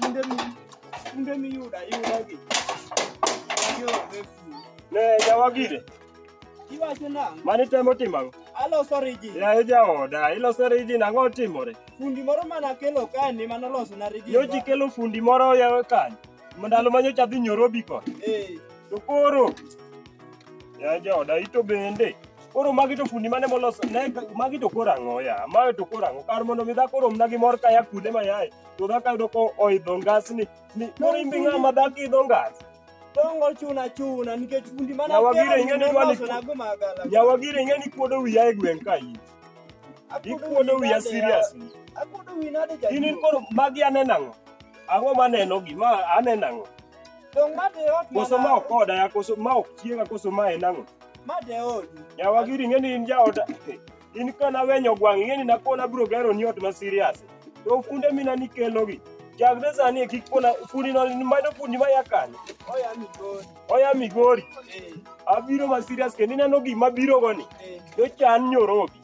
Kinde mi kinde mi yuda yuda gi. Yo refu. Ne jawa gire. Iwacho nang'? Mani temo timango. Aloso riji. Ya e jaoda, iloso riji nang'o timore? Fundi moro mana akelo kae ni mano loso na riji. Yo ji kelo fundi moro ya kae. Mandalo manyo cha dhi nyorobi ko. Eh. To koro. Ya jaoda ito bende. Koro magi to fundi mane moloso ne magi to koro ang'o ya? Magi to koro ang'o? Kar mondo mi dhako romna gi mor kaya kude ma yaye. To dhako yudo ko oidho ngas ni ni koro imbi ng'ama dhako idho ngas. Dongo chuna chuna nikech fundi mane Nyawagire ing'e ni dwani Nyawagire ing'e ni kuodo wiya e gweng' ka in. Ikuodo wiya seriously. Akuodo wiya nade jaduong'. In koro magi aneno ang'o? Ang'o maneno gi ma aneno ang'o? Dongo ng'ato e ot. Koso ma ok oda ya koso ma ok chiega koso ma en ang'o? Ma de odi. Yawa giri ing'e ni in jaoda. In kana wenyo gwang' ing'e ni nakona bro gero ni ot ma serious. To funde mina nikelogi. Chakre sani e kik pona fundi no manyo fundi ma ya kanye. Oya migori. Oya migori. Eh. Abiro ma serious kendo ineno gima biro go ni. Eh. Dochan nyorobi.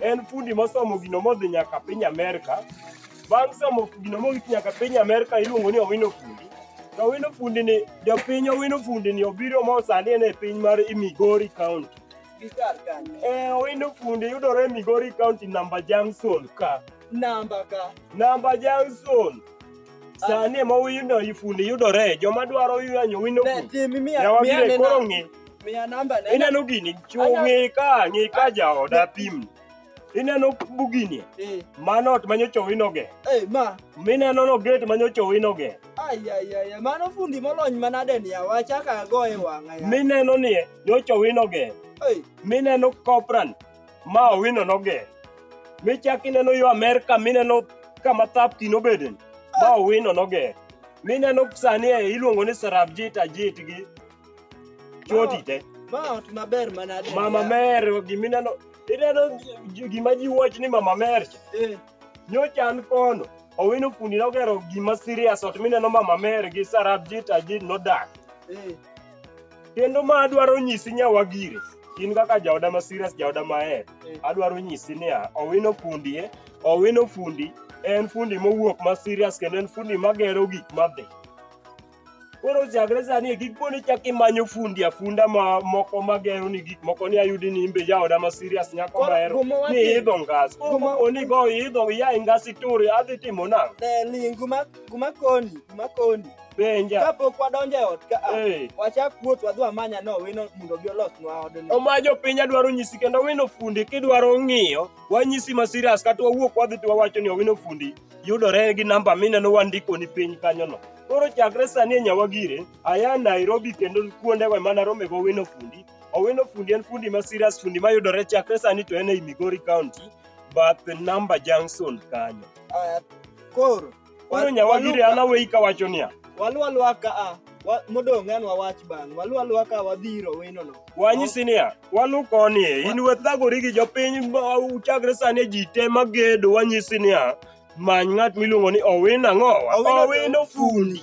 en fundi mosomo gino modhi nyaka piny Amerka. Bang' somo gino mogik nyaka piny Amerka iluongo ni Owino Fundi. To Owino Fundi ni jopiny Owino Fundi ni obiro ma sani en e piny mar Migori County. Eh, Owino Fundi yudore e Migori County namba Junction ka. Namba ka. Namba Junction. Sani ema Owino Fundi yudore. Joma dwaro yanyo Owino Ne, Fundi. tim imiya Yawa miya bire nena. koro ng'i. Miya namba ne. Ineno gini, ng'e ka, ng'e ka jaoda pim. Ineno bugini? Eh. Mano ot manyocha owinoge. Eh, ma. Mineno no gate manyocha owinoge. Ai ai ai, mano fundi molony manade ni awacha ka go e wang'a. Mineno ni nyocha owinoge. Eh. Mineno copran ma owino noge. Michak ineno yo Amerika mineno kama thap kino beden ma owino noge. Mineno sani iluongo ni sarabjita jitgi. choti te Ma ot maber manade. mama mer gimineno ineno ji- gima ji wach ni mama mer cha Eh, nyocha an kono owino fundi nogero gima serious ot mineno mama mer gi sarab jit ajit nodak eh. kendo ma adwaro nyisi nyawagire in kaka jaoda ma serious jaoda maher Mm. adwaro nyisi niya owino fundi e owino fundi en fundi mowuok ma serious kendo en fundi magero gik madhi Koro chakre sani e kik po ni chak imanyo fundi afunda ma moko ma gero ni gik moko ni ayudi ni imbe jaoda ma serious nyako Koro mahero guma ni wati- idho ngas. Koro guma- po ni go idho iya e ngas ituri adhi timo nang'o? Eh, ling guma guma koni guma koni Penja. kapok wadonjo e ot ka a, Eh. wachak wuoth wadhi wamanya no wino mondo obi olosnwa odno omajo piny adwaro nyisi kendo wino fundi kidwaro ng'iyo wanyisi ma serious kata wawuok wadhi to wawacho ni owino fundi yudore gi namba mineno wandikoni piny kanyono. Koro chakre sani e Nyawagire, aya Nairobi kendo kuondego ema naromego Owino Fundi. Owino Fundi en fundi ma serious fundi mayudore chakre sani to en ei Migori County, bath namba junction kanyo. Koro Koro Nyawagire an aweyi kawacho niya, waluwa luwa ka a Wa- Modong' an wawach bang'. Walu aluwa ka wadhi ir owinono. Wanyisi niya, walu koni e, in we thagori gi jopiny ma- uchakre sani ji te magedo wanyisi niya, many ng'at miluongo ni Owino ang'o? Owino- Owino fundi.